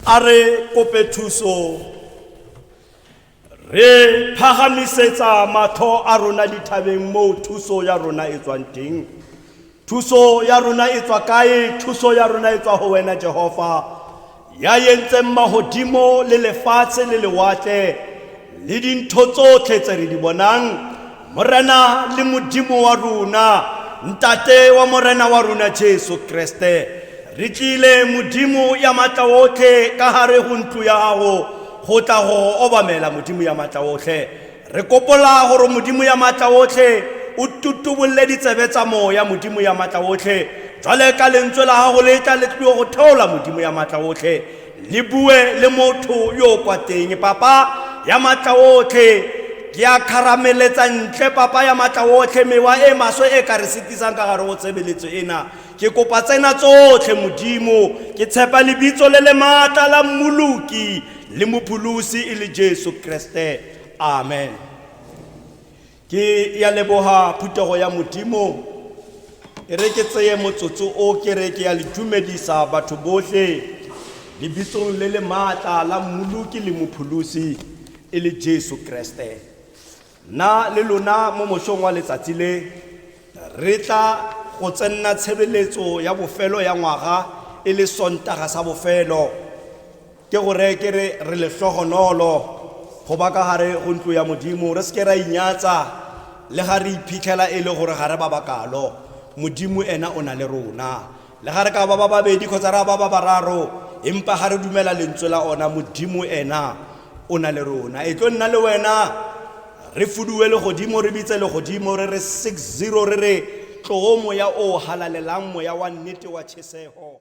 A re kope thuso. Re phagamisetsa matlho a rona dithabeng moo thuso ya rona e tswang teng. Thuso ya rona e tswa kae? Thuso ya rona e tswa go wena Jehova, ya yentseng magodimo le lefatshe le lewatle le dintho tsotlhe tse re di bonang. Morena le Modimo wa rona, Ntate wa Morena wa rona Jesu Kreste, re tlile Modimo ya matla otlhe ka gare go ntlo ya gago go tla go obamela Modimo ya matla otlhe. Re kopola gore Modimo ya matla otlhe o tutubolole ditsebe tsa moya Modimo ya matla otlhe, jwale ka lentswe la gago le tla le tlio go theola Modimo ya matla otlhe. le bue le motho yo o kwa teng papa ya matla otlhe ke a kharameletsa ntle papa ya matla otlhe mewa e maswe e ka re setisang ka gare go tshebeletso ena ke kopa tsena tsotlhe modimo ke tshepa lebitso le le maatla la mmoloki le mopholosi e le jesu kreste amen ke ya leboga phutego ya modimo e re ke tseye motsotso o ke re ke ya le dumedisa batho botlhe lebitsong le le maatla la mmoloki le mopholosi e le jesu kreste nna le lona mo mosong wa letsatsi le re tla go tsenna tshebeletso ya bofelo ya ngwaga e le sontaga sa bofelo Ke go reye ke re, re lehlogonolo go ba ka gare go ntlo ya Modimo, re se ke ra inyatsa le ga re iphitlhela e le gore ga re ba bakalo. Modimo ena o na le rona. Le ga re ka ba ba babedi kgotsa ra ba ba bararo, empa ga re dumela lentswe la ona, Modimo ena o na le rona. E tlo nna le wena, re fuduwe legodimo, re bitse legodimo, re re 60, re re, Tloo moya o o halalelang, moya wa nnete wa tšhesego.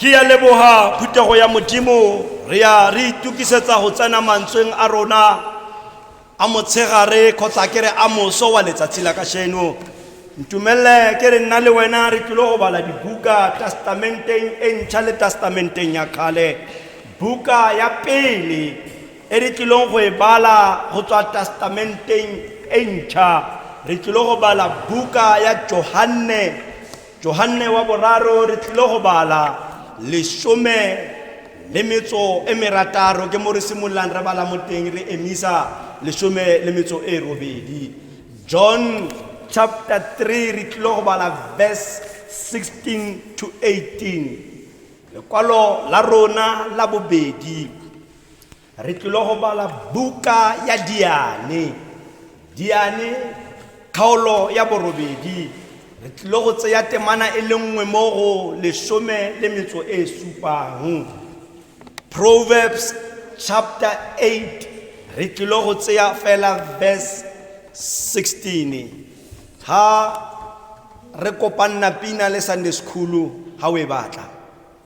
ke ya leboga phuthego ya modimo re ya re itukisetsa go tsena mantsweng a rona a motshegare kgotsa ke re a moso wa letsatsi la kasheno ntumelele ke re nna le wena re tlile go bala dibuka testamenteng e ntšha le testamenteng ya kgale buka ya pele e re tlileng go e bala go tswa testamenteng e ntšha re tlile go bala buka ya johanne Johanne wa Boraro re tlile go bala lesome le metso e merataro ke mo re simololang re bala mo teng re emisa lesome le metso e robedi john chapter 3 re tlile go bala verse 16 to 18 lekwalo la rona la bobedi Re tlile go bala buka ya Diane. Diane, kgaolo ya borobedi. Re tlile go tseya temana e le nngwe mo go lesome le metso e supang. Proverbs chapter 8, re tlile go tseya fela verse 16. Ha re kopanna pina le Sunday School ha o e batla.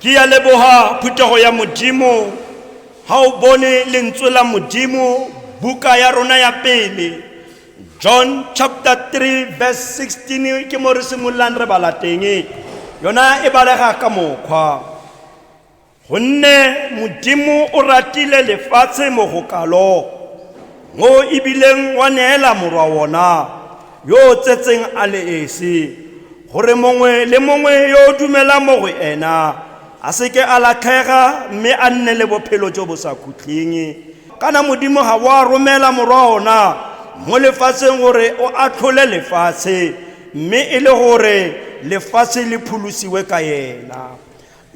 ke ya leboga phuthego ya modimo ga o bone lentswe la modimo buka ya rona ya pele john chapter 3 verse 16 ke mo re simololang re bala teng yona e balega ka mokgwa Gonne Modimo o ratile lefatshe mo go kalo, mo ebileng wa neela morwa wona yo o tsetseng a le esi, gore mongwe le mongwe yo o dumelang mo go ena a seke a latlhega mme a nne le bophelo jo bo sa khutleng. Kana Modimo ga wa romela morwa ona mo lefatsheng gore o atlhole lefatshe, mme e le gore lefatshe le phulosiwe ka yena.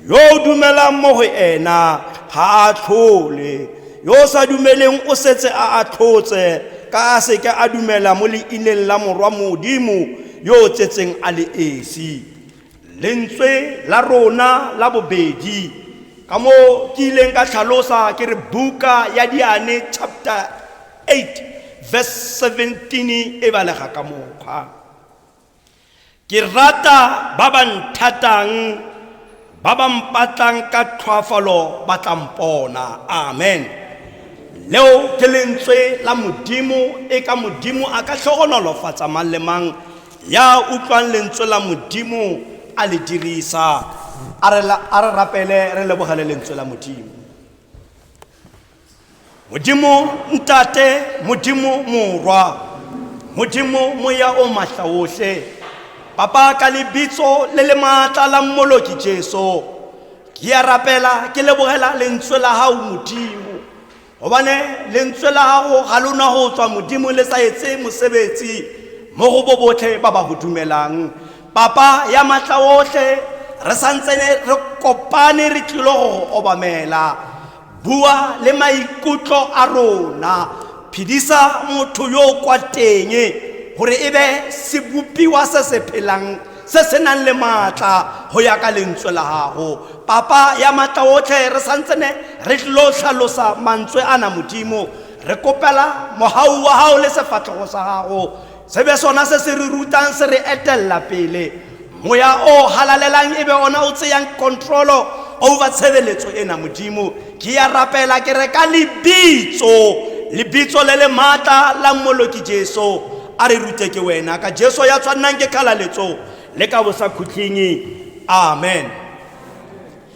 Yo o dumelang mo go ena ga a tlhole, yo o sa dumeleng o setse a atlhotse, ka a seke a dumela mo leineng la Morwa Modimo yo o tsetseng a le esi. Lentswe la rona la bobedi, ka mo ke ileng ka tlhalosa ke re buka ya Diane chapter 8 verse 17 e balega ka mokgwa. Ke rata ba ba nthatang, ba ba mpatlang ka tlhoafalo ba tla mpona. Amen. Leo ke lentswe la Modimo, e ka Modimo a ka tlhogonolofatsa mang le mang ya utlwang lentswe la Modimo a le dirisa. A re rapele re lebogele lentswe la Modimo. modimo ntate modimo morwa modimo moya o matla otlhe papa ka lebitso le le maatla la mmoloki jesu ke ya rapela ke lebogela lentswe la gago modimo gobane lentswe la gago ga lona go tswa modimo le sa etse mosebetsi mo go bo botlhe ba ba go dumelang papa ya matla otlhe re santsene re kopane re tlilo go obamela Bua le maikutlo a rona. Phedisa motho yo o kwa teng gore e be sebopiwa se se phelang se se nang le maatla go ya ka lentswe la gago papa ya maatla otlhe re santsene re tlo tlhalosa mantswe a na modimo re kopela mogau wa gago le sefatlhogo sa gago Se be sona se se re rutang, se re etelela pele. Moya o halalelang e be ona o tseyang control over tshebeletso ena, Modimo. Ke ya rapela ke re ka lebitso, lebitso le le matla la Mmoloki Jesu, a re rute ke wena. Ka Jesu ya tshwannang ke khalaletso le ka bosakhutleng. Amen.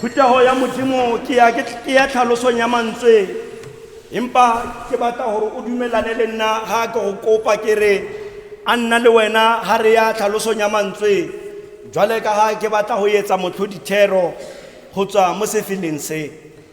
phuthego ya modimo ke ya ke- ke ya tlhalosong ya mantswe empa ke batla gore o dumelane le nna ga ke go kopa ke re a nna le wena ga re ya tlhalosong ya mantswe jwale ka ga ke batla go etsa motlhodithero go tswa mo sefeleng se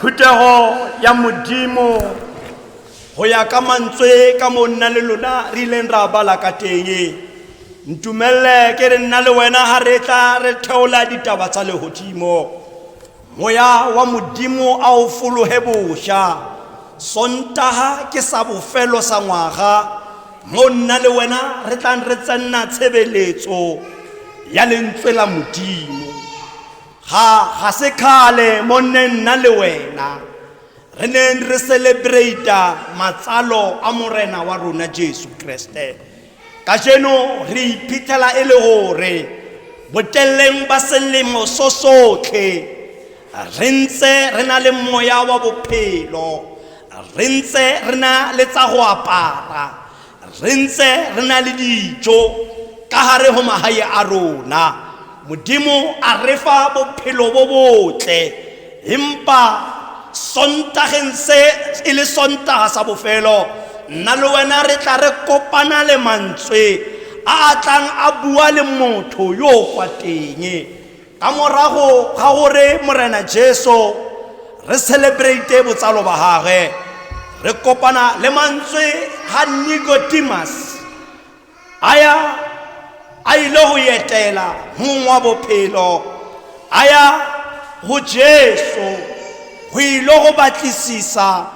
phuthego ya modimo go ya ka mantswe ka mo nna le lona re ileng ra bala ka teng ntumelele ke re nna le wena ga re tla re theola ditaba tsa legodimo Moya wa Modimo a o fologe bosha. Sontaga ke sa bofelo sa ngwaga mo nna le wena re tlang re tsenna tshebeletso ya lentswe la Modimo. Ga ga se kgale mo nne nna le wena re neng re celebrate matsalo a Morena wa rona Jesu Kriste. kajeno re iphitlhela e le gore boteleleng ba selemo so sotlhe re ntse re na le moya wa bophelo re ntse re na le tsa go apara re ntse re na le dijo ka gare go magae a rona Modimo a refa bophelo bo botle empa sontageng se e le sontaga sa bofelo nna le wena re tla re kopana le mantswe a a tlang a bua le motho yo o kwa teng ka morago ga gore morena jesu re celebrate botsalo ba gagwe re kopana le mantswe ga nicodemus a ya a ile go etela mong wa bophelo a ya go jesu go ile go batlisisa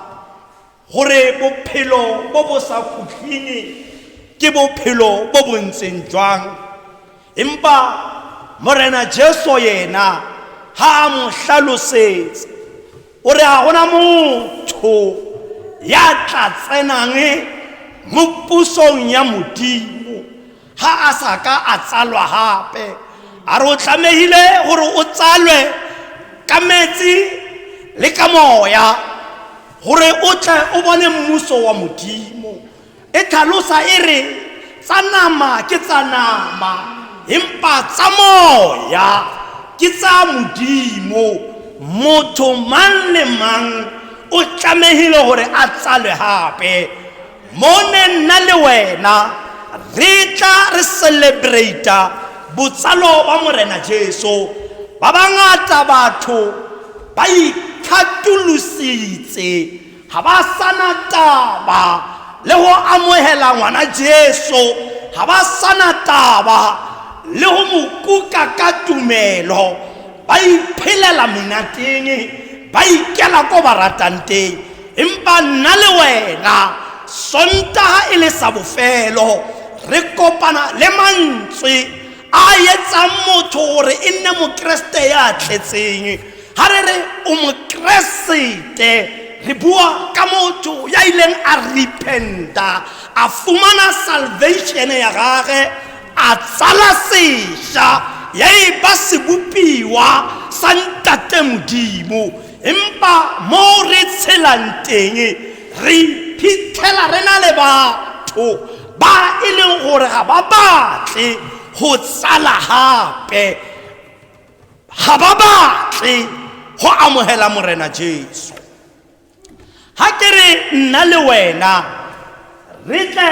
gore bophelo bo bo sa khutlhine ke bophelo bo bo ntseng jwang empa morena jesu yena ga a mo hlalosetse O re ga gona motho ya tla tsenang mo pusong ya Modimo ga a sa ka a tsalwa gape. A re o tlamehile gore o tsalwe ka metsi le ka moya gore o tle o bone mmuso wa Modimo. e tlhalosa e re tsa nama ke tsa nama empa tsa moya ke tsa modimo motho mang le mang o tlamehile gore a tsalwe gape mone nna le wena re tla re celebrata botsalo wa morena jesu ba bangata batho ba ikgatolositse ga ba sana taba le go amogela ngwana jesu ga ba sana taba le go mo kuka ka tumelo ba iphelela monateng ba ikela ko ba ratang teng empa nna le wena sontaga e le sa bofelo re kopana le mantswe a etsang motho gore e nne mokeresete ya tletseng ga re re o mokeresete re bua ka motho ya ileng a repenta a fumana salvation ya gage a tsala sesha ya e ba sebopiwa sa ntate modimo empa mo re tshelang teng re phithela re na le batho ba e leng gore ga ba batle go tsala gape ga ba batle go amogela morena jesu ga ke re nna le wena re tle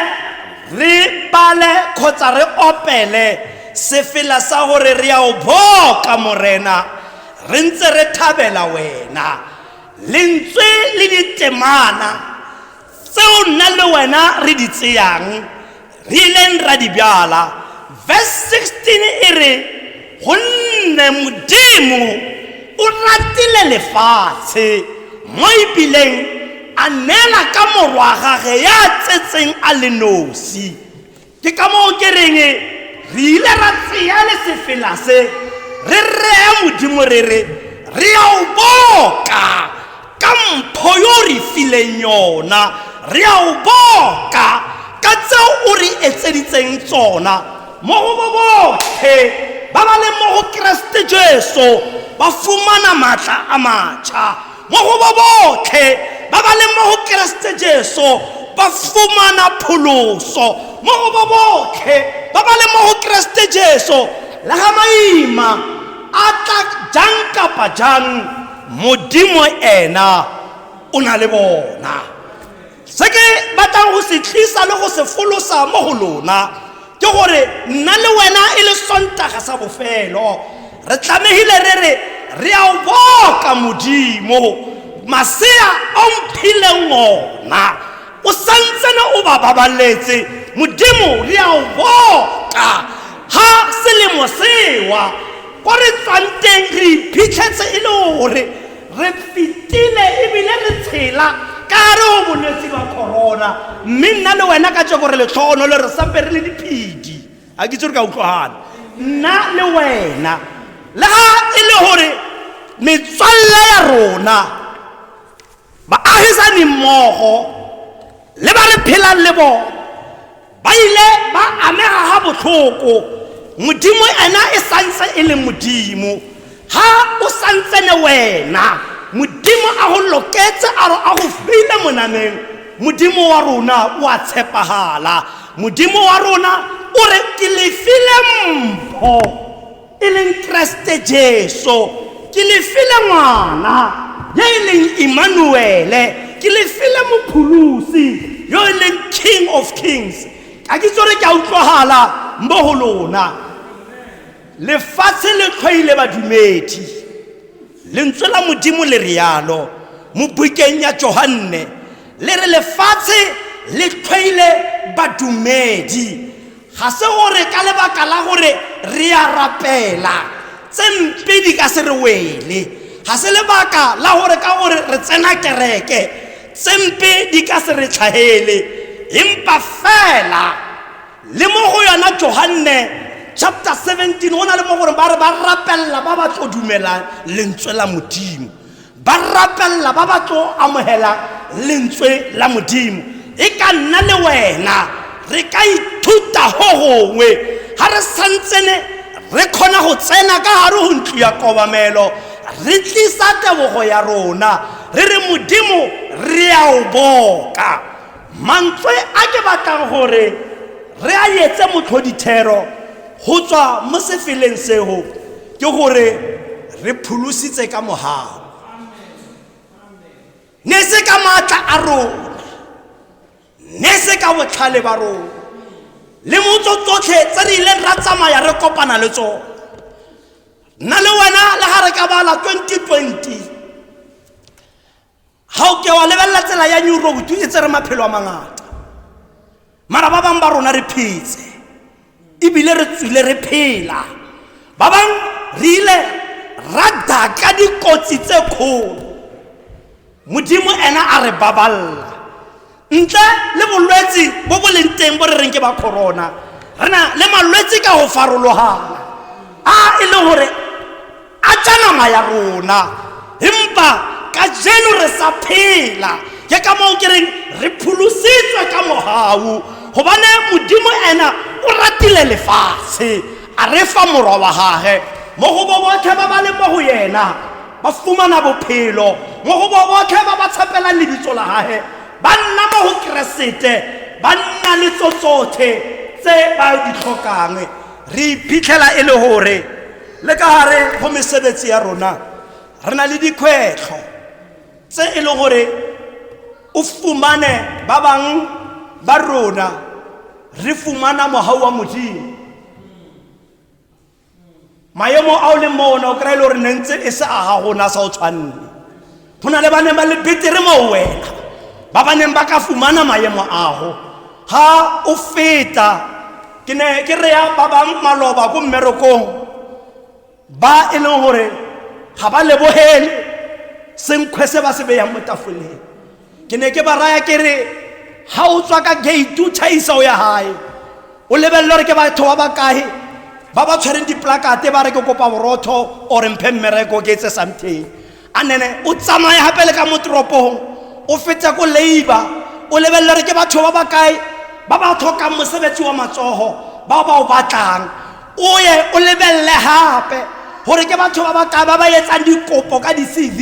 re bale kgotsa re opele sefela sa gore re ya o boka morena re ntse re thabela wena lentswe le ditemana tseo nna le wena re di tseyang Re ileng ra di bjala. Verse 16 e re, Gonne Modimo o ratile lefatshe, mo e bileng a neela ka morwa gage ya tsetseng a le nosi. Ke ka moo ke reng re ile ra tseya le sefela se, re rea Modimo re re, re ya o boka. ka mpho yo o re fileng yona re a o boka ka tseo o re etseditseng tsona mo go bo botlhe ba ba leng mo go keresete jesu ba fumana maatla a matšha mo go bo botlhe ba ba leng mo go keresete jesu ba fumana pholoso mo go bo botlhe ba ba leng mo go keresete jesu le ga maima a tla jang kapa jang modimo ena o na le bona se ke batlang go se tlisa le go se folosa mo go lona ke gore nna le wena e le sontaga sa bofelo re tlamegile re re re a o boka modimo masea o mphileng ona o santsene o ba babaletse modimo re a o boka ga selemo sewa ko re tswang teng re iphitlhetse e le gore re fetile ebile re tshela ka re o bolwetse ba corona mme nna le wena ka tse gore letlhogono le re sampe re le diphedi ga ke itse re ka utlwagana nna le wena le ga e le gore metswalle ya rona Baagisani mmogo le ba re phelang le bone ba ile ba amega ga botlhoko modimo ena e santse e le modimo ga o santsene wena modimo a go loketse a re a go file monameng modimo wa rona o a tshepagala modimo wa rona o re ke lefile mpho e leng keresete jesu ke le file ngwana ya e leng emmanuele ke le file mopholosi yo e leng king of kings ka ke tsore ke a utlwagala mo go lona lefatshe le tlhwaile badumedi Lentswe la Modimo le rialo mo bukeng ya Johanne, le re lefatshe le tlhoile badumedi. Ga se gore ka lebaka la gore re a rapela, tse mpe di ka se re wele. Ga se lebaka la gore ka gore re tsena kereke, tse mpe di ka se re tlhagele, empa fela le mo go yona johanne chapter 17 go na le mo gore ba re ba rapelela ba ba tlo dumelang lentswe la modimo ba rapelela ba ba tlo amogelang lentswe la modimo e ka nna le wena re ka ithuta go gongwe ga re santsene re kgona go tsena ka gare go ntlo ya kobamelo re tlisa tebogo ya rona re re modimo re a o boka mantswe a ke batlang gore re a etse motlhodithero go tswa mo sefeleng seo ke gore re pholositse ka mogago ne se ka maatla a rona ne se ka botlhale ba rona le motso tsotlhe tse re ileng ra tsamaya re kopana le tsone nna le wena le ga re ka bala 2020 ga o ke wa lebelela tsela ya new road e tsere maphelo a mangata mara ba bangwe ba rona re phetse ebile re tswile re phela ba bangwe re ile ra daka dikotsi tse kgolo modimo ena a re baballa ntle le bolwetse bo bo leng teng bo re reng ke ba corona re na le malwetse ka go farologana a e leng gore a tša nama ya rona empa ka jeno re sa phela ke ka moo ke reng re pholositswe ka mogau gobane modimo ena o ratile lefatshe a re fa morwa wa gage mo go bo botlhe ba ba leng mo go yena ba fumana bophelo mo go bo botlhe ba ba tshepelang lebitso la gage ba nna mo go keresete ba nna le tso tsotlhe tse ba di tlhokang re iphitlhela e le gore le ka gare go mesebetsi ya rona re na le dikgwetlho tse e le gore o fumane ba bang ba rona re fumana mogau wa modimo maemo a o leng mo ona o kry-e le gore ne ntse e se a ga gona sa o tshwanne go na le ba neng ba le betere mo wena ba ba neng ba ka fumana maemo ago ga o feta ke ne ke reya ba bang maloba ko mmerekong ba e leng gore ga ba lebogele senkgwe se ba se beyang mo tafoleng ke ne ke ba raya ke re ga o tswa ka gate o tšhaisa o ya gae o lebelele gore ke batho ba bakae ba ba tshwereng diplakate ba re ke kopa borotho ore mphe mmereko ke etse something a nene o tsamaye gape le ka mo toropong o fete ko labor o lebelele gore ke batho ba bakae ba ba tlhokang mosebetsi wa matsogo bao ba o batlang o ye o lebelele gape gore ke batho ba baka ba ba etsang dikopo ka di-cv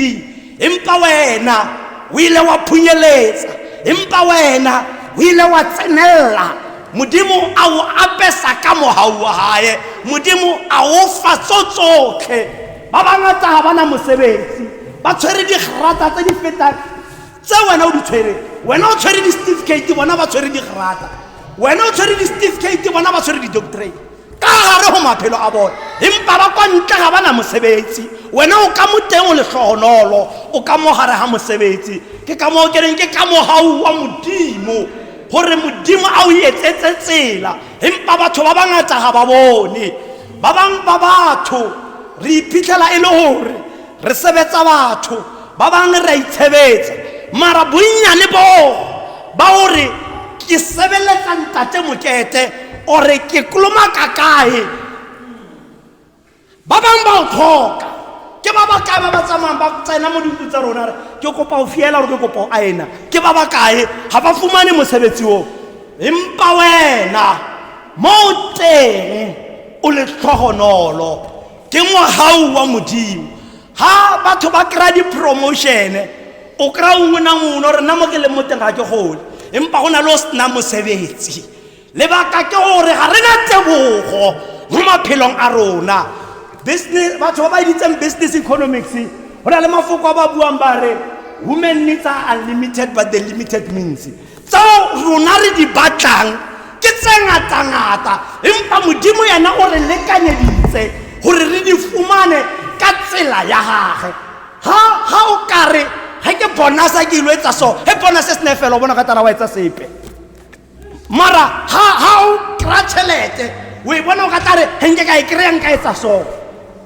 empa wena o ile wa phunyeletsa empa wena o ile wa tsenelela modimo a o apesa ka mogau wa gae modimo a o fa tso tsotlhe ba bangata ga bana mosebetsi ba tshwere digrata tse di fetang tse wena o di tshwereng wena o tshwere di-certificate bona ba tshwere digrata wena o tshwere di-certificate bona ba tshwere di-doctorate ka gare go maphelo a bone empa ba kwa ntle ga bana mosebetsi wena o ka mo teng o letlhogonolo o ka mo gare ga mosebetsi ke ka moo ke reng ke ka mogau wa modimo gore modimo a o etsetse tsela empa batho ba bangata ga ba bone ba bangwe ba batho re iphitlhela e le gore Re sebetsa batho, ba bangwe re a itshebetsa, mara bonnyane boo ba o re ke sebeletsa Ntate Mokete or ke kolomaka kae, ba bangwe ba o tlhoka. Ke ba ba kae ba ba tsamayang ba tsena mo dintlo tsa rona re ke kopa o fiela or ke kopa o aena, ke ba ba kae ga ba fumane mosebetsi oo. Empa wena mo o teng o letlhogonolo. ke ngwagau wa modimo ga batho ba kry-a di-promotion-e o kry-a ongwe na ngone gore nna mo ke leng mo teng ga ke gole empa go na le o sena mosebetsi lebaka ke gore ga re na tebogo mo maphelong a rona business batho ba ba editseng business economics go na le mafoko a ba buang ba re women needs are unlimited but the limited means tseo rona re di batlang ke tse ngata-ngata empa modimo yena o re lekanyeditse gore re di fumane ka tsela ya gage ga o kare ga ke bonasa ke ilo etsa so ge bonase se ne fela o bona ka tala wa etsa sepe mara ga o kry-a tšhelete o e bona o ka tla re ge nke ka e kry-a nka etsa so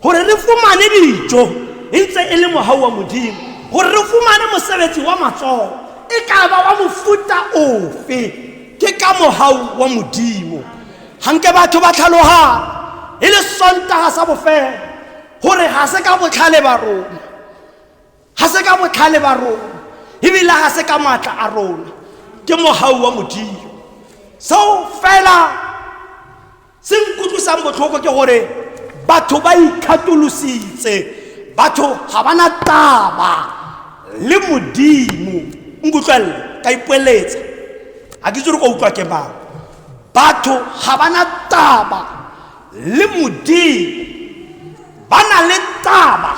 gore re fumane dijo e ntse e le mogau wa modimo gore re fumane mosebetsi wa matsogo e ka ba wa mofuta ofe ke ka mogau wa modimo ganke batho ba tlhaloga e le sontaga sa bofela gore ga se ka botlhale ba rona ga se ka botlhale ba rona ebile ga se ka maatla a rona ke mogau wa modimo seo fela se nkutlwisang botlhoko ke gore batho ba ikgatolositse batho ga ba na taba le modimo nkutlwelele ka ipoeletsa ga ke tsere kwa utlwa ke mang batho ga ba na taba le modimo ba na le taba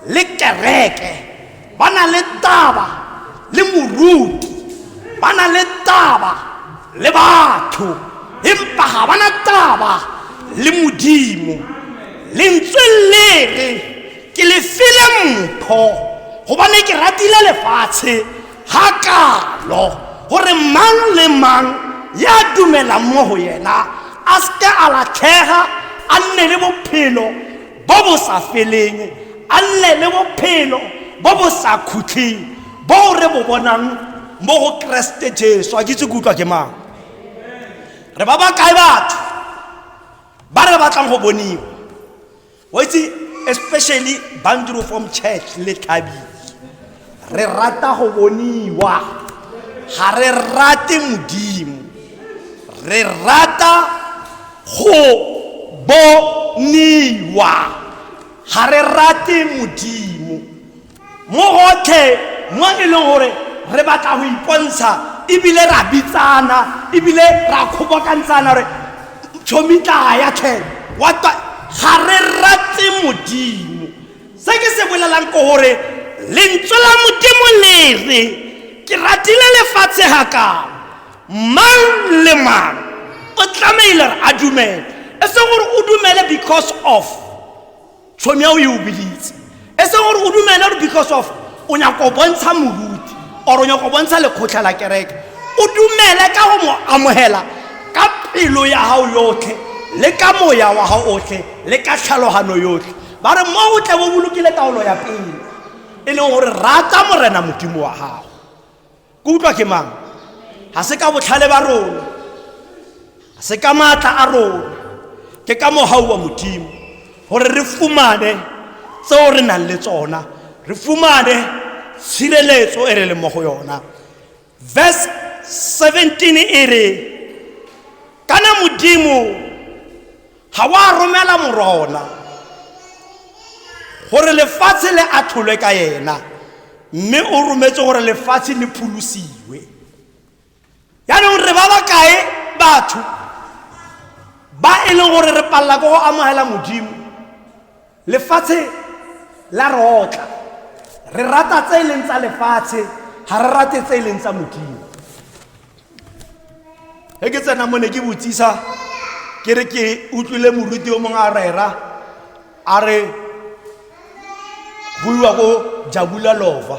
le kereke ba na le taba le moruti ba na le taba le batho empa ga ba na taba le modimo lentswe le re ke le file mpho gobane ke ratile lefatshe ga kalo gore mang le mang ya dumelang mo go yena a seke a latlhega a nne le bophelo bo bo sa feleng a nne le bophelo bo bo sa khutlheng bo re bo bonang mo go keresete jesu a kitse kutlwa ke mang re ba ba kae batho ba re batlang go boniwa wa itse especially bandro from church le thabile re rata go boniwa ga re rate modimo re rata go boniwa ga re rate modimo mo gotlhe mo e leng gore re batla go ipontsha ebile ra bitsana ebile ra kgobokantshana gore tshomitlaga ya tlhele wata ga re ratse modimo se ke se bolelang ke gore lentswe la modimo le re ke ratile lefatshe ga kang mang le mang o tlamehile re a dumele e se gore o dumele because of tshomi ya o e o biditse e seng gore o dumele gore because of o nyako o bontsha moruti or o nyako o bontsha lekgotlha la kereke o dumele ka go mo amogela ka pelo ya gago yotlhe le ka moya wa gago otlhe le ka tlhalogano yotlhe ba re mo o tle bo bolokile taolo ya pele e leng gore rata morena modimo wa gago Ke utlwa ke mang? Ga se ka botlhale ba rona, ga se ka maatla a rona, ke ka mogau wa Modimo gore re fumane tseo re nang le tsona, re fumane tshireletso e re leng mo go yona. Verse 17 e re, kana Modimo ga wa romela morona gore lefatshe le atlholwe ka yena mme o rometse gore lefatshe le pholosiwe yaanong re ba ba kae batho ba e leng gore re palela ko go amogela modimo Lefatshe la re otla. Re rata tse e leng tsa lefatshe, ga re rate tse e leng tsa Modimo. Ge ke tsena mo ne ke botsisa ke re ke utlwile moruti o mongwe a rera a re go iwa ko jabula lova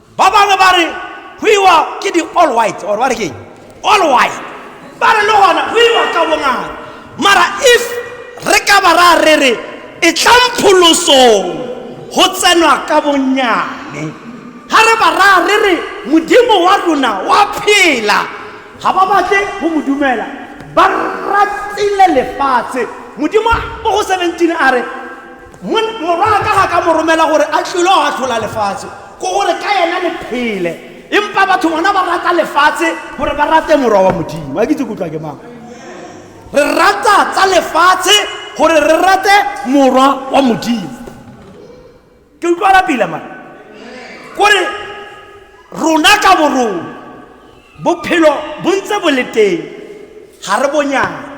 ba bangwe ba re go iwa ke di-all white or ba re keng all white ba re le gona go iwa ka bongata mara if re ka ba ra re re e tlang pholosong go tsenwa ka bonnyane ga re ba ra re re modimo wa rona wa phela ga ba batle go mo dumela ba ratile lefatshe modimo mo go 17 a re morwaka ga ka mo romela gore a tlilo a tlhola lefatshe ko gore ka yena le phele empa batho bona ba rata lefatshe gore ba rate morwa wa modimo a ke tse kutlwa ke mang re rata tsa lefatshe gore re rate morwa wa modimo ke utlwala pila ma kore rona ka borona bophelo bo ntse bo le teng ga re bonyana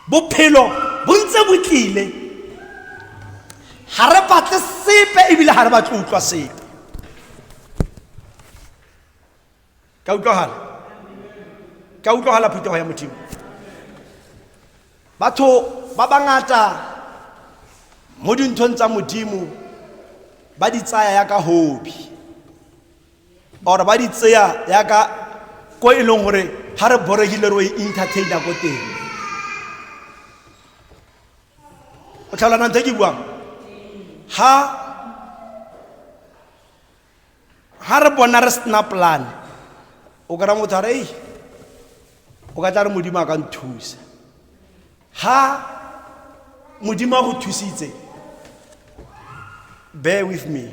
bophelo bo ntse bo tlile ga re batle sepe ebile ga re batle utlwa sepe ka utlwagala ka utlwagala phetogo ya modimo batho ba bangata mo dinthong tsa modimo ba di tsaya ya ka hobi or ba di tseya yaka ko e leng gore ga re boregile ro e entertaina ko teng o tlhalana ntho e ke buang ha ha re bona re sena plan o kry-a motho a re ei o ka tla re modimo a ka nthusa Ha Modimo a go thusitse, bear with me.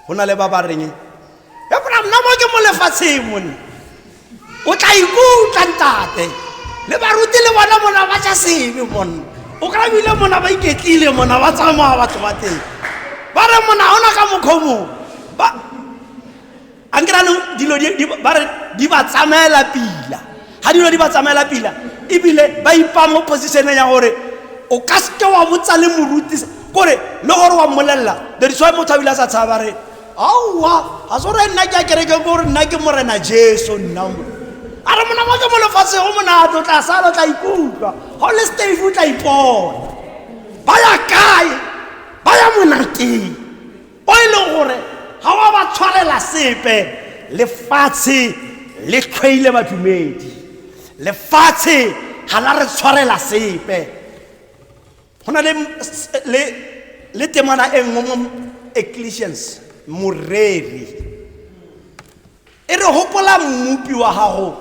Go na le ba ba reng, "Ya bona nna mo ke mo lefatsheng mone." O tla ikutlwa ntate. Le baruti le bona mona ba ja sebe mona. O ka bile mona ba iketlile mona ba tsamaya batho ba teng. Ba re mona ona ka mokgwa o mongwe. Ba a nke ranong dilo ba re di ba tsamaela pila ga dilo di ba tsamaela pila ebile ba ipa mo positioneng ya gore o ka seke wa botsa le moruti kore le gore wa mmolelela that's why motho a bile a sa tshaba re aowa ga se gore nna ke a kereke kore nna ke morena jesu nna mo a re monamo ke mo lefatshe go monate o tla sala o tla ikutlwa ga o le stave o tla ipona ba ya kae ba ya monateng o e leng gore ga wa ba tshwanela sepe lefatshe le tlhwaile badumedi lefatshe ga la re tshwarela sepe go na le temana e nngwe mo ecclesians moreri E re gopola Mmopi wa gago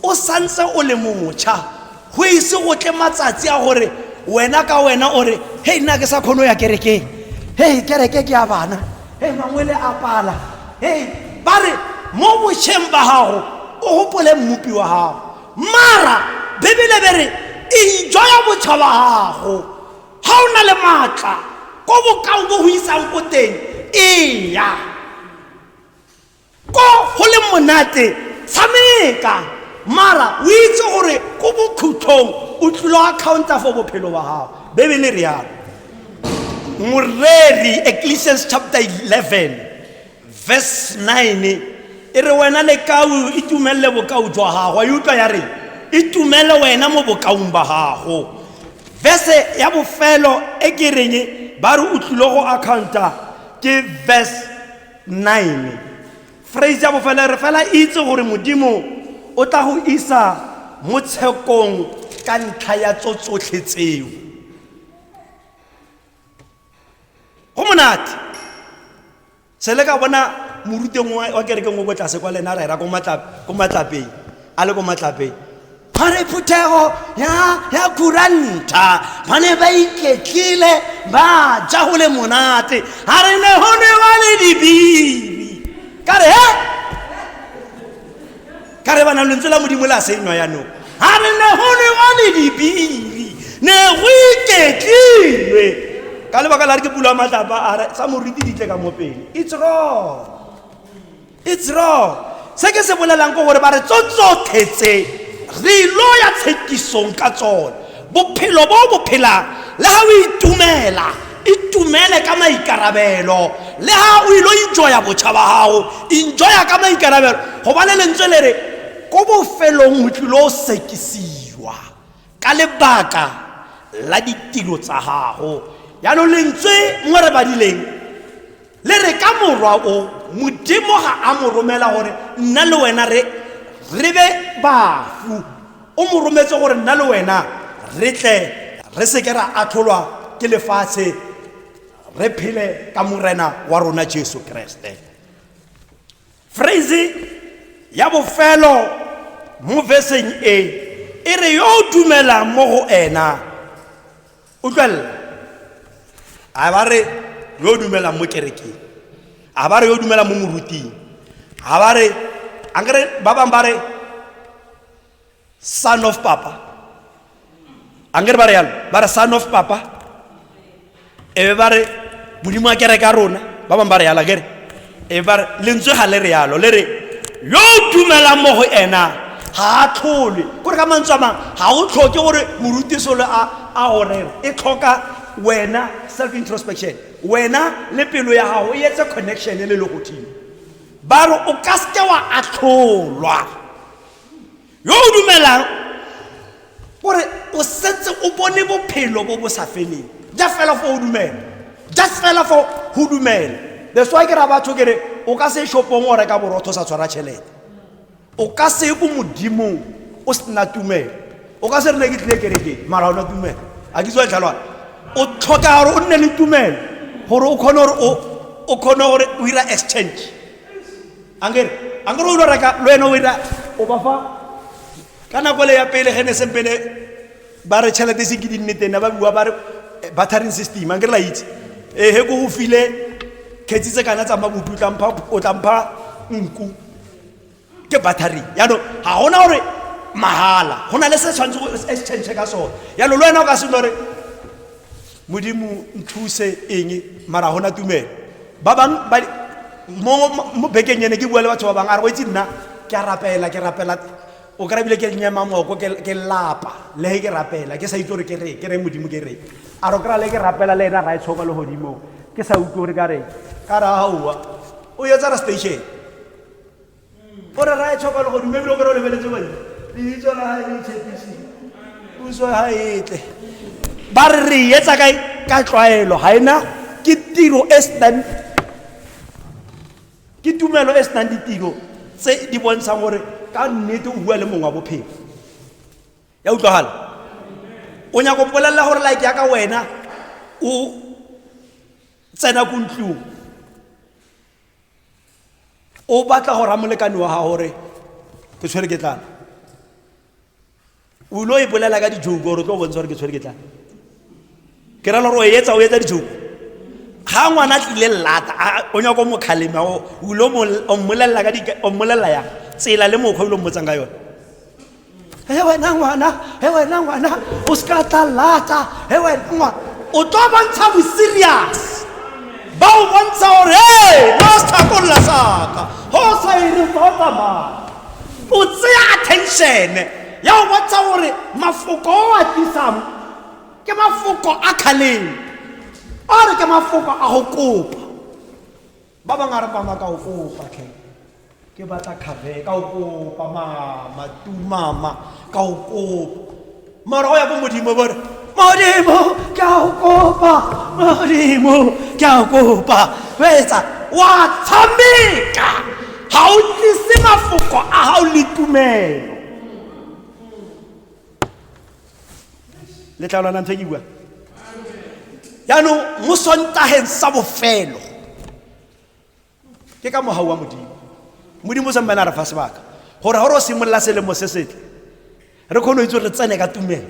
o santse o le motšha, go ise go tle matsatsi a gore wena ka wena o re, Hei, nna ke sa kgone go ya kerekeng. Hei, kereke ke ya bana. Hei, mangwele a pala. Hei, ba re mo bošeng ba gago o gopole Mmopi wa gago. Mara Bibele be re enjoya botšha ba gago. Ga o na le maatla, ko bokao bo go isang ko teng, eya. ko go le monate tshameka mara o itse gore ko bokhutlhong o tlilo accounta for bophelo ba gago bebele re yalo moreri ecclesians chapter 11 verse 9 e re wena lekau itumelele bokao jwa gago a e utlwa ya re itumele wena mo bokaong ba gago verse ya bofelo e ke reng ba re o tlile go accounta ke verse 9 phrase ya bofela re fela itse gore modimo o tla go isa mo tshekong ka ntlha ya tso tsotlhe tseo go monate se le ka bona moruteng wa kerekeng o ko tlase kwa lena a ra era ko matlapeng a le ko matlapeng ba re phuthego ya ya kuranta ba ne ba iketlile ba ja go le monate ga re ne go ne ba le dibibi ka re he ka re bana lentswe la modimo le a senywa yanong ga re ne go ne ba le dibibi ne go iketlilwe ka lebaka la re ke pulo ya matlapa a re tsa moriti di tle ka mo pele it's wrong It's wrong. Se ke se bolelang ko gore ba re tso tsotlhe tse re ilo ya tshekisong ka tsone. Bophelo bo bo phelang le ha o itumela itumele ka maikarabelo le ha o ilo enjoya botšha ba gago enjoya ka maikarabelo go ba le lentswe le re ko bofelong o tlilo o sekisiwa ka lebaka la ditiro tsa gago yaanong lentswe mo re badileng le re ka morwa o modimo ga a mo romela gore nna le wena re re be bafu o mo rometse gore nna le wena re tle re seke ra atlholwa ke lefatshe re phele ka morena wa rona jesu keresete Phrase ya bofelo mo veseng e e re yo o dumelang mo go ena utlwelela a ba re yo o dumelang mo kerekeng a ba re yo o dumelang mo moruting a ba re ankere ba bangwe ba re son of papa a ngere ba re yalo ba re son of papa ebe ba re modimo a kereka rona ba bangwe ba re yalo kere ebe ba re lentswe ga le re yalo le re yo o dumelang mo go ena ga a tlholwe kore ka mantswe a mangwe ga o tlhoke gore morutisolo a gorere e tlhoka wena self introspection wena le pelo ya gago e etse connection le le godimo ba re o ka seke wa atlholwa yo o dumelang gore o setse o bone bophelo bo bo sa feleng ja fela fo o dumela ja fela fo go dumela that's why ke ra batho ke re o ka se shopong o reka borotho o sa tshwara tšhelete o ka se ye ko modimong o sena tumelo o ka se re ne ke tlile kerekeng mara o na tumelo a ke tswa tlhalwana o tlhoka gore o nne le tumelo gore o kgone gore o kgone gore o ira exchange angere angere o lo reka lo ene o ira o ba fa ka nako le ya pele ge ne seng pele ba re tšhelete se ke di nne tena ba bua ba re eh, battering system angere la itse ee eh, he ko go file kgetsi tse kana tsa mabutu o tlampha nku ke battering yaanong ga gona gore mahala go na le se tshwanetse go exchange ka sone yaanong le wena o ka seno gore modimo nthuse eng mara gona tumelo ba bangwe mo bekeng ene ke bua le batho ba bangwe a re go itse nna ke a rapela ke rapela o kry bile ke nyema moko ke lapa le ke rapela ke sa itse gore ke re ke re modimo ke re a ro kry le ke rapela le ena ra e tshoka le godimo ke sa utlwe gore ka re ka re aowa o yetsa re station o re rae tlhoka le go dumebile o kry o lebeletse bone leitso la gae le itshepisi puso ga etle ba re re etsa kae ka tlwaelo ga ena ke tiro e senang ke tumelo e senang ditiro tse di bontshang gore ka nnete o bua le mongwe wa bophelo ya utlwagala o nyako polelela gore like ya ka wena o tsena ko ntlong o batla go raya molekane wa gago gore ke tshwere ke tlana o ile o ipolela ka dijoko gore o tlo bontsha gore ke tshwere ke tlana ke rela gore o etsa o etsa dijoko ga ngwana tlile lata o nyako mokgaleme o ile o mmolelela ya tsela le mokgwa o ile o mmotsang ka yone Eu era ngwana, eu era ngwana, o se ka tla lata, eu era ngwana. O tlo bontsha bo serious. Ba o bontsha gore hey, no se tlhakolola saka. Ho sa ire fa o tsamaya. O tseya attention ya o bontsha gore mafoko o a tlisang ke mafoko a khaleng. Or ke mafoko a go kopa. ba bang a re pama ka o kopa tlhe ke batla kgave ka o kopa mama tumama ka o kopa mara o ya ko modimo bo re modimo ke a o kopa modimo ke a o kopa o etsa wa tshameka ga o tlise mafoko a ga o le tumelo le tla lwana ntho e ke bua jaanong mo sontageng sa bofelo ke ka mogau wa modimo modimo o sempane a re fa sebaka gore gore o simolola selemo se setle re kgone go itse gore re tsene ka tumelo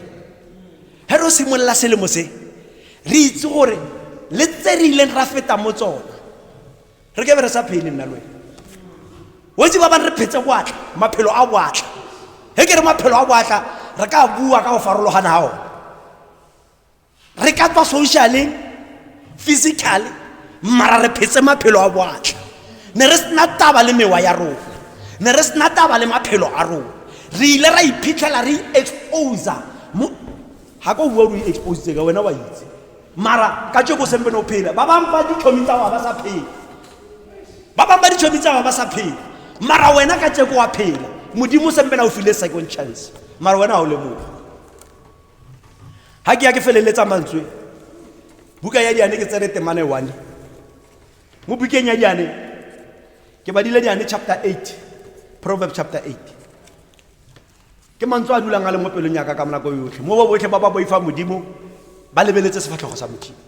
ge re o simolola selemo se re itse gore le tse re ileng ra feta mo tsone re ke be re sa phele nna lwena wetse ba bane re phetse boatla maphelo a boatla ge ke re maphelo a boatla re ka bua ka go farologana ga one re ka tswa socialeng physically mara re phetse maphelo a boatla ne re sena taba le mewa ya rona ne re sena taba le maphelo a rona re ile ra iphitlhela re exposa ga ko bua o re expositse ka wena wa itse mara ka tšeko sempe no phela ba bangwe ba ditšhomi tsa wa ba sa phela ba bangwe ba ditšhomi tsa wa ba sa phela mara wena ka tšeko wa phela modimo sempela o file second chance mara wena ga o lemoga ga ke ya ke feleletsa mantswe buka ya diane ke tsere temane one mo bukeng ya diane ke badile diane chapter 8 proverb chapter 8 ke mantswe a dulang a le mo pelong yaka ka monako yotlhe mo ba botlhe ba ba boifang modimo ba lebeletse sefatlhogo sa modimo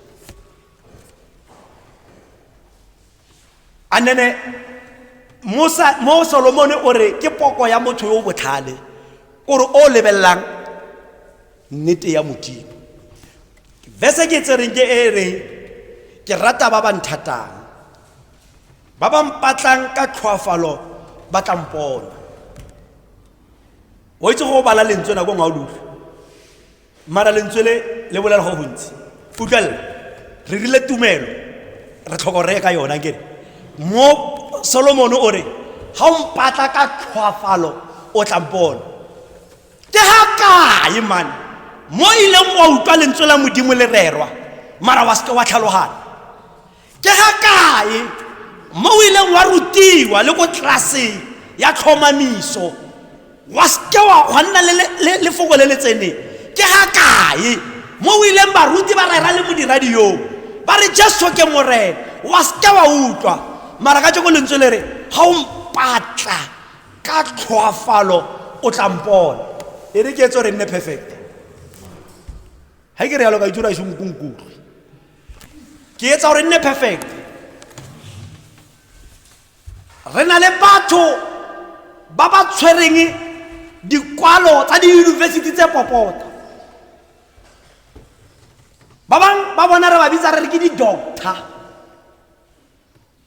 a nene mo solomone o re ke poko ya motho yo o botlhale o re o lebelelang nnete ya modimo verse ke tsereng ke e reng ke rata ba ba nthatang Ba ba mpatlang ka tlhoafalo ba tla mpona. O itse go bala lentswe nako ngwe o le utlwe. Mara lentswe le le bolela go gontsi. Utlwella. Re rile tumelo. Re tlhoko re ka yona ke. Mo Solomon o re ha o mpatla ka tlhoafalo o tla mpona. Ke ha kae man? Mo ileng wa utlwa lentswe la modimo le rerwa. Mara wa se wa tlhalogana. ke ga kae mo o ileng wa rutiwa le ko tlelaseng ya tlhomamiso wa seke wa nna lefoko le le tseneng ke ga kae mo o ileng baruti ba rera le modiradiong ba re jesu ke morena wa seke wa utlwa mara ka jeko lentswe le re ga o mpatla ka tlhoafalo o tla mpona e re ke etso re nne perfect ga ke re yalo ka itse o ra e senkunkutlo ke etsa gore nne perfect re na le batho ba ba tshwereng dikwalo tsa diyunibesithi tse popota ba bangwe ba bona re ba bitsa re re ke di-doctor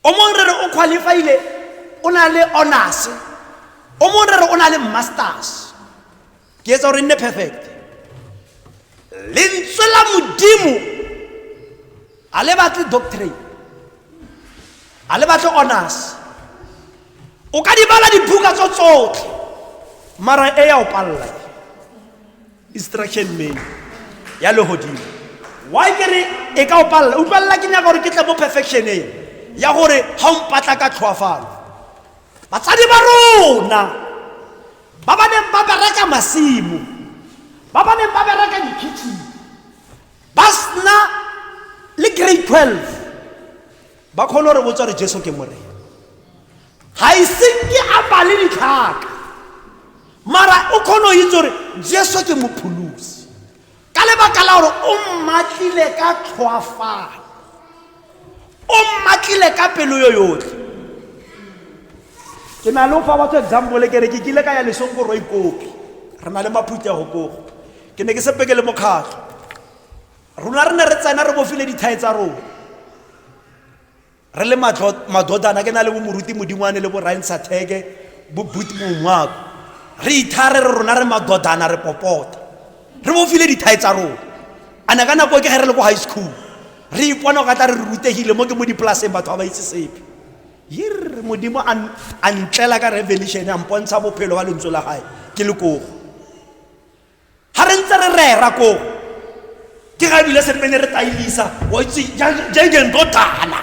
O mongwe re re o qualifiele o na le honors o mongwe re re o na le masters ke etsa gore e nne perfect lentswe la modimo ga le batle doctrine ga le batle honors o ka di bala dibuka tso tsotlhe mara e ya o palela instruction menu ya legodimo wa kere e ka o palela utlwalela ke nyaka gore ke tle mo perfectioneng ya gore ga o mpatla ka tlhoafalo batsadi ba rona ba ba neng ba bereka masimo ba ba neng ba bereka dikitchen ba sena le grade 12 ba kgone gore botsa gore jesu ke morena ga ise ke apale ditlhaka mara o kgone go itse gore jesu ke mopholosi ka lebaka la gore o mmatlile ka tlhoafalo o mmatlile ka pelo yo yotlhe ke na le fa batho example ke re ke kile ka ya lesong ko roikopi re na le maphuti ya gokogo ke ne ke sepeke le mokgatlho Rona re ne re tsena re bofile dithae tsa rona re le madodana ke na le bomoruti modingwane le borain satheke bo but mongwako re ithare re rona re madodana re popota re bofile dithae tsa rona a ne ka nako ke ge re le ko high school re ipona ka tla re re rutegile mo ke mo dipolaseng batho ba ba itse sepe yirre modimo a ntlela ka revelation a mpontsha bophelo ba lentswe la gae ke le kogo ga re ntse re rera koo ke ga ebile se pene re tailisa wa itse jengendotana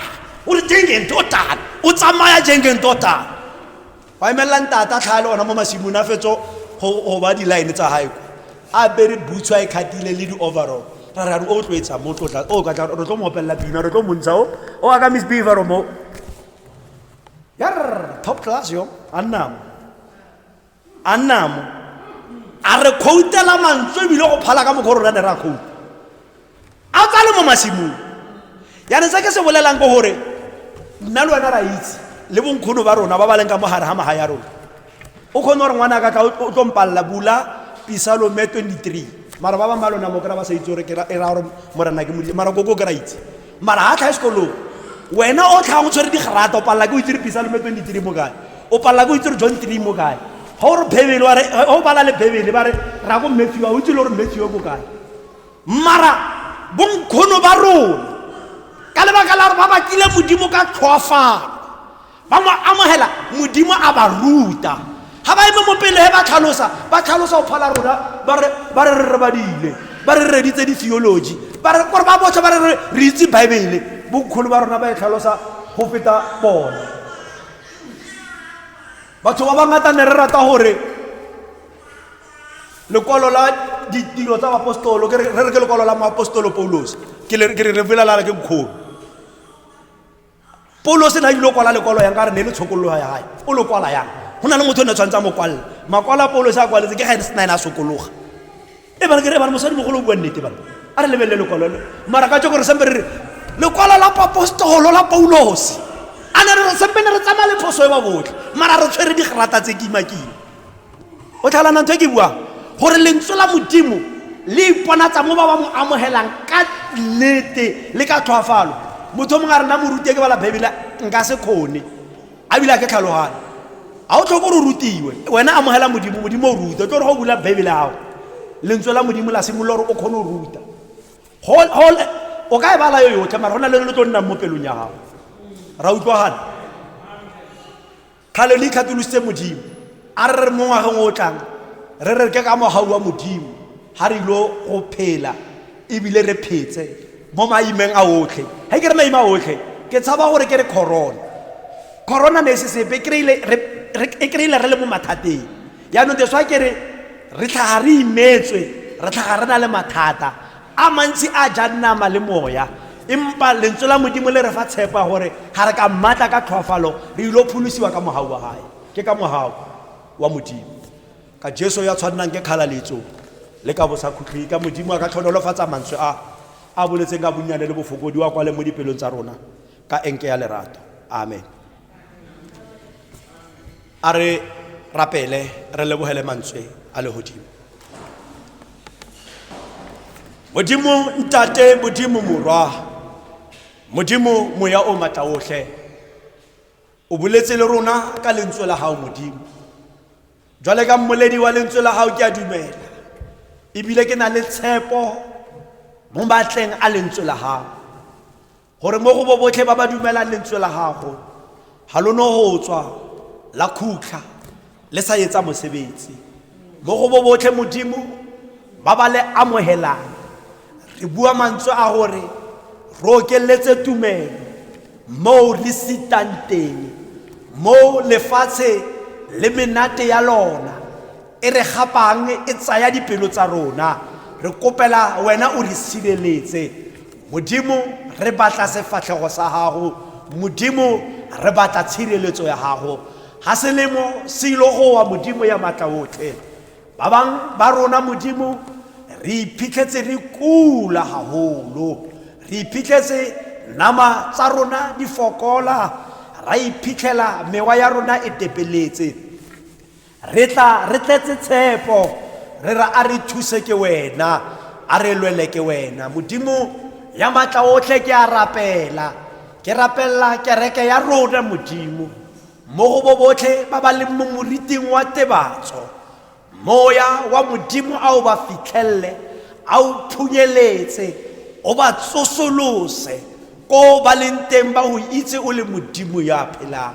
o re jengendotana o tsamaya jengendotana wa emelela ntata tlhaa le ona mo masimong a fetso go ba di-line tsa gae ko a bere boots a e kgatile le di-overall ra ra re o tlwetsa mo tlotla o ka re tlo mo opelela pina re tlo montsha o o aka miss beavero mo yar top class yo a nnamo a nnamo a re khoutela mantswe ebile go phala ka mokgwa rona ne re a khouta a tsa le mo masimong yane se ke se bolelang ke gore nna le wena ra itse le bonkgono ba rona ba ba leng ka mo gare ga maga ya rona o kgone gore ngwana ka ka o tlo mpalela bula pisalome 23 mara ba bangwe ba lona mo kry-a ba sa itse gore e raya gore morena ke modile mara koko kry-a itse mara ha tlhae sekolong wena o tlhang o tshwere digrata o palela ke o itse re pisa lome twenty three mo kae o palela ke o itse re john three mo kae ga o re bebele wa re ga o bala le bebele ba re ra ko matthew a o itse le gore matthew ko kae mara bonkgono ba rona ka lebaka la gore ba bakile modimo ka tlhoafalo ba mo amogela modimo a ba ruta ga ba eme mo pele he ba tlhalosa ba tlhalosa go phala rona ba re re badile ba re reditse di-theology ba re kore ba botsha ba re re itse baebele bonkgolo ba rona ba e tlhalosa go feta bone batho ba bangata ne re rata gore lekwalo la ditiro tsa baapostolo re re ke lekwalo la moapostolo paulos ke re re bolelela ke nkgolo paulo se na ile kwala lekwalo yang ka re ne le tshokololo ya gae o lo kwala yang go na le motho o ne tshwanetse a mo kwalela makwalo a paulo se a kwaletse ke ga ene se na ene a sokologa e bana ke re bana mosadi mogolo o bua nnete bana a re lebelele lekwalo le mara ka tse gore sempe re re lekwalo la papostolo la paulose a ne re re sempe ne re tsamaya le phoso e ba botlhe mara re tshwere digrata tse kimakima o tlhalana ntho e ke buang gore lentswe la modimo le iponatsa mo ba ba mo amogelang ka nnete le ka tlhoafalo motho o mongwe a rena morute ke bala baebele nka se kgone a bile a ke tlhalogane ga o tlhoko gore o rutiwe wena amogela modimo modimo o ruta tlo gore go bula baebele gago lentswe la modimo la simolola gore o kgone o ruta o ka e bala yo yotlhe mara go na le le tlo nnang mo pelong ya gago ra utlwagana Kgale le ikgatolositse Modimo. A re re mo ngwageng o tlang, re re ke ka mogau wa Modimo, ga re ilo go phela ebile re phetse mo maimeng a otlhe. Ga ke re maime a otlhe, ke tshaba gore ke re corona. Corona ne e se sepe, e kry-ile re le mo mathateng. Yaanong that's why ke re re tlhaga re imetswe, re tlhaga re na le mathata. A mantsi a jang nama le moya, empa Lentswe la Modimo le re fa tshepo ya gore ga re ka mmatla ka tlhoafalo, re il'o pholosiwa ka mogau wa Gage. Ke ka mogau wa Modimo, ka Jesu yo a tshwannang ke kgalaletso le ka bosakhutleng, ka Modimo a ka tlhonolofatsang mantswe a A boletseng ka bonnyane le bofokodi, o a kwale mo dipelong tsa rona ka enke ya lerato. Amen. a re rapele re lebogele mantswe a legodimo modimo ntate modimo morwa modimo moya o matla otlhe o boletse le rona ka lentswe la gago modimo jwale ka mmoledi wa lentswe la gago ke a dumela ebile ke na le tshepo mo matleng a lentswe la gago Gore mo go bo botlhe ba ba dumelang lentswe la gago, ga lo no go tswa la khutlha le sa etsa mosebetsi. Mo go bo botlhe Modimo ba ba le amogelang, re bua mantswe a gore re okeletse tumelo moo re sitang teng, moo lefatshe le menate ya lona e re gapang e tsaya dipelo tsa rona. Re kopela wena o re sireletse. Modimo, re batla sefatlhego sa Gago, Modimo, re batla tshireletso ya Gago. Ga selemo se ilo gowa, Modimo ya matla otlhe. Ba bang ba rona, Modimo, re iphitlhetse re kula gagolo. Re iphitlhetse nama tsa rona di fokola, ra iphitlhela mewa ya rona e tepeletse. Re tla re tletse tshepo, re re a re thuse ke wena, a re lwele ke wena. Modimo ya matla otlhe ke a rapela, ke rapella kereke ya rona Modimo, mo go bo botlhe ba ba leng mo moriting wa tebatso. Moya wa Modimo a o ba fitlhelele, a o phunyeletse, o ba tsosolose ko ba leng teng ba go itse o le Modimo ya phelang.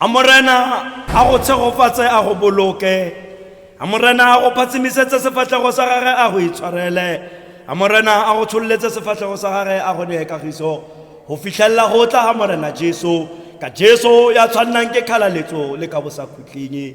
a morena a go tshegofatse a go boloke a morena a go phatsimisetse sefatlhego sa gage a go itshwarele a morena a go tshololetse sefatlhego sa gage a go nee kagiso go fitlhelela go tla ga morena jesu ka jesu ya tshwannang ke kgalaletso le ka bosakhutleng